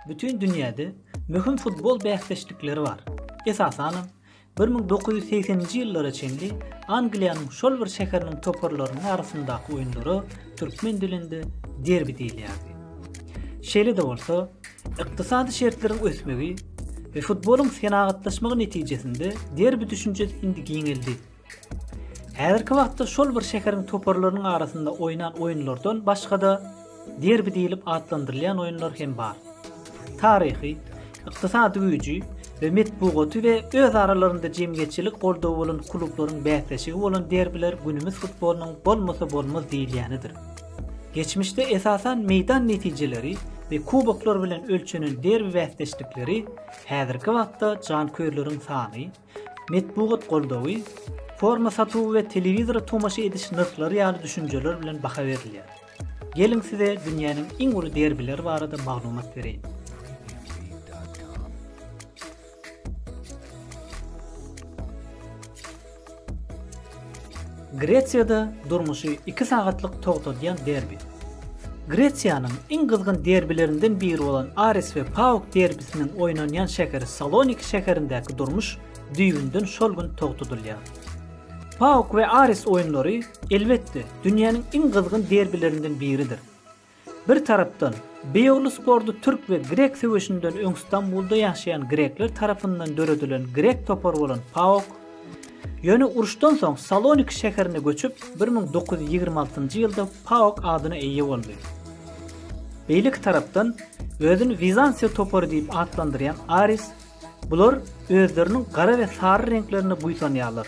Bütin dünýäde möhüm futbol bäsdeşlikleri bar. Esasanam, bir müň dokuz ýüz segseninji ýyllara çenli Angliýanyň şol bir şäheriniň toparlarynyň arasyndaky oýunlara türkmen dilinde derbi diýilýärdi. Şeýle-de bolsa, ykdysady şertleriň ösmegi we futbolyň senagatlaşmagy netijesinde derbi düşünjesi indi giňeldi. Häzirki wagtda şol bir şäheriň toparlarynyň arasynda oýnan oýunlardan başga-da derbi diýlip atlandyrylýan oýunlar hem bar. Taryhy, ykdysady güýji we metbugaty we öz aralarynda jemgyýetçilik goldawy bolan klublaryň bäsleşigi bolan derbiler günümiz futbolynyň bolmasa bolmaz diýilýänidir. Geçmişde esasan meýdan netijeleri we kuboklar bilen ölçenen derbi bäsdeşlikleri häzirki wagtda janköýerleriň sany, Metbugat goldawy, forma satuwy we telewizora tomaşa ediş nyrhlary ýaly düşünjeler bilen baha berilýär. Geliň size dünýäniň iň uly derbileri barada maglumat bereýin. Gresiýada durmuşy iki sagatlyk togtadýan derbi. Gresiýanyň iň gyzgyn derbilerinden biri bolan Aris we Pauk derbisiniň oýnanýan şäheri Saloniki şäherindäki durmuş düýbünden şol gün togtadylýar. Pauk we Aris oýunlary, elbetde, dünýäniň iň gyzgyn derbilerinden biridir. Bir tarapdan, Beýogly sporty türk we grek söweşinden öň Stambulda ýaşaýan grekler tarapyndan döredilen grek topary bolan PAOK, ýöne uruşdan soň Saloniki şäherine göçüp, bir müň dokuz ýüz ýigrimi altynjy ýylda PAOK adyna eýe boldy. Beýleki tarapdan, özüni Wizantiýa topary diýip atlandyrýan Aris, Bular özleriniň gara we sary reňklerine buýsanýarlar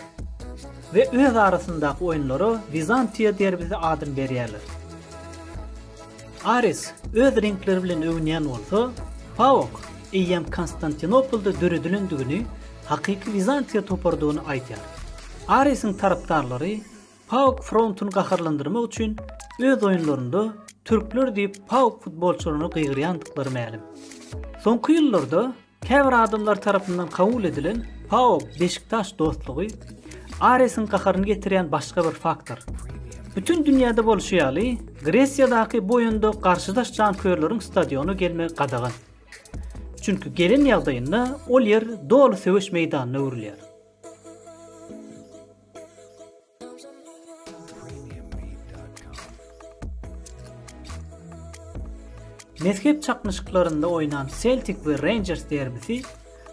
we öz arasyndaky oýunlara Wizantiýa derbisi adyny berýärler. Aris öz reňkleri bilen öwünýän bolsa, Paok eýýäm Konstantinopolda döredilendigini, hakyky Wizantiýa toparydygyny aýdýar. Arisiň tarapdarlary PAOK frontuny gaharlandyrmak üçin öz oýunlarynda türkler diýip PAOK futbolçylaryna gygyrýandyklary mälim. Soňky ýyllarda käbir adamlar tarapyndan kabul edilen PAOK Beşiktaş dostlugy Aresiň gaharyny getirýän başga bir faktor. Bütin dünýäde bolşy ýaly, Gresiýadaky bu oýunda garşydaş janköýerleriň stadiona gelmegi gadagan. Çünki gelen ýagdaýynda ol ýer doly söweş meýdanyna öwrülýär. Mezhep çaknyşyklarynda oýnan Seltik we Reýnjers derbisi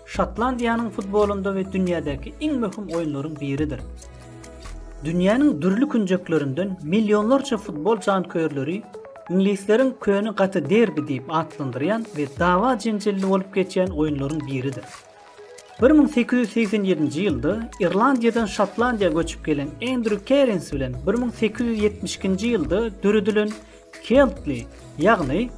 Şotlandiýanyň futbolynda we dünýädäki iň möhüm oýunlaryň biridir. Dünýäniň dürli künjeklerinden millionlarça futbol janköýerleri iňlisleriň köne gaty derbi diýip atlandyrýan we dawa-jenjelli bolup geçýän oýunlaryň biridir. Bir müň sekiz ýüz segsen ýedinji ýylda Irlandiýadan Şotlandiýa göçüp gelen Endrýu Kerins bilen bir müň sekiz ýüz ýetmiş ikinji ýylda döredilen Keltli, ýagny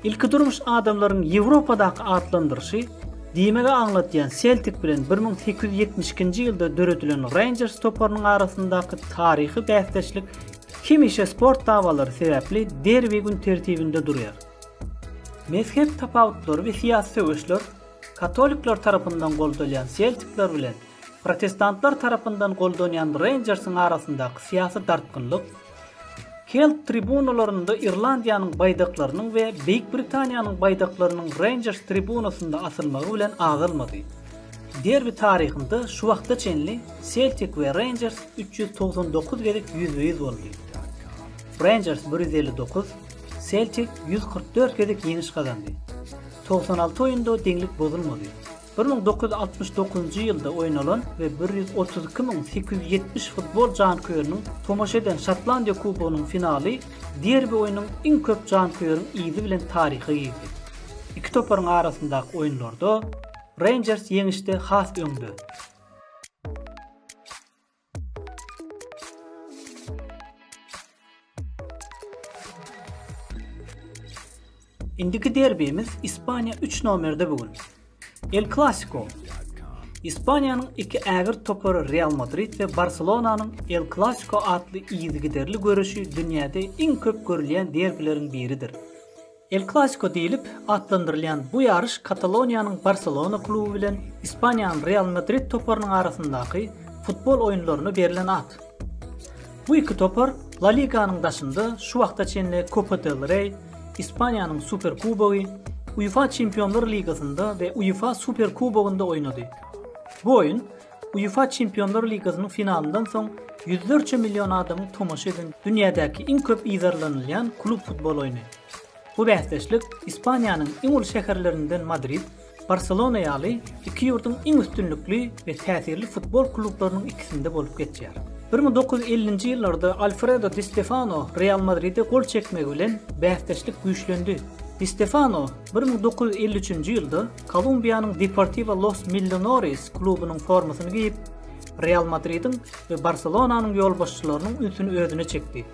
Ilki durmuş adamlaryň Ýewropadaky atlandyryşy, diýmegi aňladýan Seltik bilen bir müň sekiz ýüz ýetmiş ikinji ýylda döredilen Reýnjers toparynyň arasyndaky taryhy bäsdeşlik hemişe sport dawalary sebäpli derbi gün tertibinde durýar. Mezhep tapawutlary we syýasy söweşler katolikler tarapyndan goldalýan seltikler bilen protestantlar tarapyndan goldanýan reýnjersiň arasyndaky syýasy dartgynlyk, Kelt tribunalarynda Irlandiýanyň baýdaklarynyň we Beýik Britaniýanyň baýdaklarynyň Reýnjers tribunasynda asylmagy bilen azalmady. Derbi taryhynda şu wagta çenli Seltik we Reýnjers üç ýüz togsan dokuz gezek ýüzbe-ýüz boldy. Reýnjers bir ýüz elli dokuz, Seltik ýüz kyrk dört gezek ýeňiş gazandy. Togsan alty oýunda deňlik bozulmady. Bir müň dokuz ýüz altmyş dokuzynjy ýylda oýnalan we bir ýüz otuz iki müň sekiz ýüz ýetmiş futbol janköýeriniň tomaşa eden Şotlandiýa Kubogynyň finaly derbi oýnunyň iň köp janköýeriň yzy bilen taryha girdi. Iki toparyň arasyndaky oýunlarda Reýnjers ýeňişde has öňde. Indiki derbimiz Ispaniýa 3 nomerde bu gün. El Clasico. Ispaniýanyň iki ägirt topary Real Madrid we Barselonanyň El Clasico atly yzygiderli göreşi dünýäde iň köp görülýän derbileriň biridir. El Klasiko diýlip atlandyrylýan bu ýaryş Kataloniýanyň Barselona kluby bilen Ispaniýanyň Real Madrid toparynyň arasyndaky futbol oýunlaryna berlen at. Bu iki topar La Liganyň daşynda şu wagta çenli Kopa del Rey, Ispaniýanyň Superkubogy, UEFA Çempionlar ligasynda we UEFA Superkubogynda oýnady. Bu oýun UEFA Çempionlar ligasynyň finalyndan soň ýüzlerçe million adamyň tomaşa eden dünýädäki iň köp yzarlanylýan klub futbol oýny. Bu bäsdeşlik Ispaniýanyň iň uly şäherlerinden Madrid, Barselona ýaly iki ýurduň iň üstünlikli we täsirli futbol klublarynyň ikisinde bolup geçýär. Bir müň dokuz ýüz ellinji ýyllarda Alfredo Di Stefano Real Madride gol çekmegi bilen bäsdeşlik güýçlendi. Di Stefano bir müň dokuz ýüz elli üçünji ýylda Kolumbiýanyň Deportivo Los Millonarios klubunyň formasyny geýip, Real Madridiň we Barselonanyň ýolbaşçylarynyň ünsüni özüne çekdi.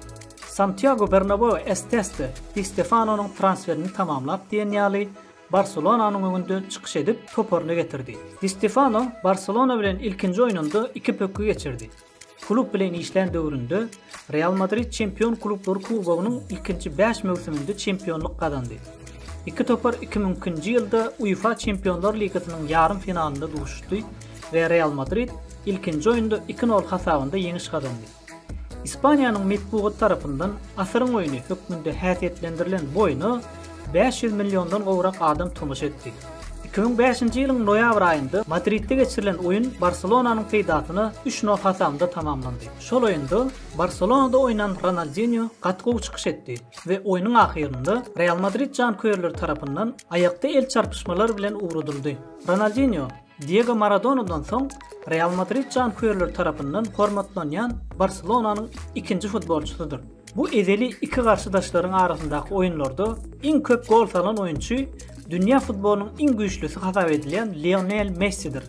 Santýago Bernabeu Esteste Di Stefanonyň transferini tamamlap diýen ýaly Barselonanyň öňünde çykyş edip, toparyny getirdi. Di Stefano Barselona bilen ilkinji oýnunda iki pökgi geçirdi. Klub bilen işlän döwründe Real Madrid Çempion klublar kubogynyň ilkinji bäş möwsüminde çempionlyk gazandy. Iki topar iki müňkinji ýylda UEFA Çempionlar ligasynyň ýarym finalynda duşuşdy we Real Madrid ilkinji oýunda iki nol hasabynda ýeňiş gazandy. Ispaniýanyň metbugaty tarapyndan asyryň oýny hökmünde häsiýetlendirilen bu oýna Bäş ýüz milliondan gowrak adam tomaşa etdi. Iki müň bäşinji ýylyň noýabr aýynda Madridde geçirilen oýun Barselonanyň peýdasyna üç nol hasamynda tamamlandy. Şol oýunda Barselonada oýnan Ronaldinýo gaty gowy çykyş etdi we oýnuň ahyrynda Real Madrid janköýerleri tarapyndan aýakda el çarpyşmalar bilen ugradyldy. Ronaldinýo. Diego Maradonadan soň Real Madrid janköýerleri tarapyndan hormatlanýan Barselonanyň ikinji futbolçysydyr. Bu ezeli iki garşydaşlaryň arasyndaky oýunlarda iň köp gol salan oýunçy dünýä futbolynyň iň güýçlüsi hasap edilýän Lionel Messidir.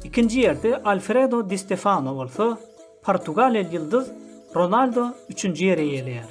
Ikinji ýerde Alfredo Di Stefano bolsa, portugaliýaly ýyldyz Ronaldo üçünji ýeri eýeleýär.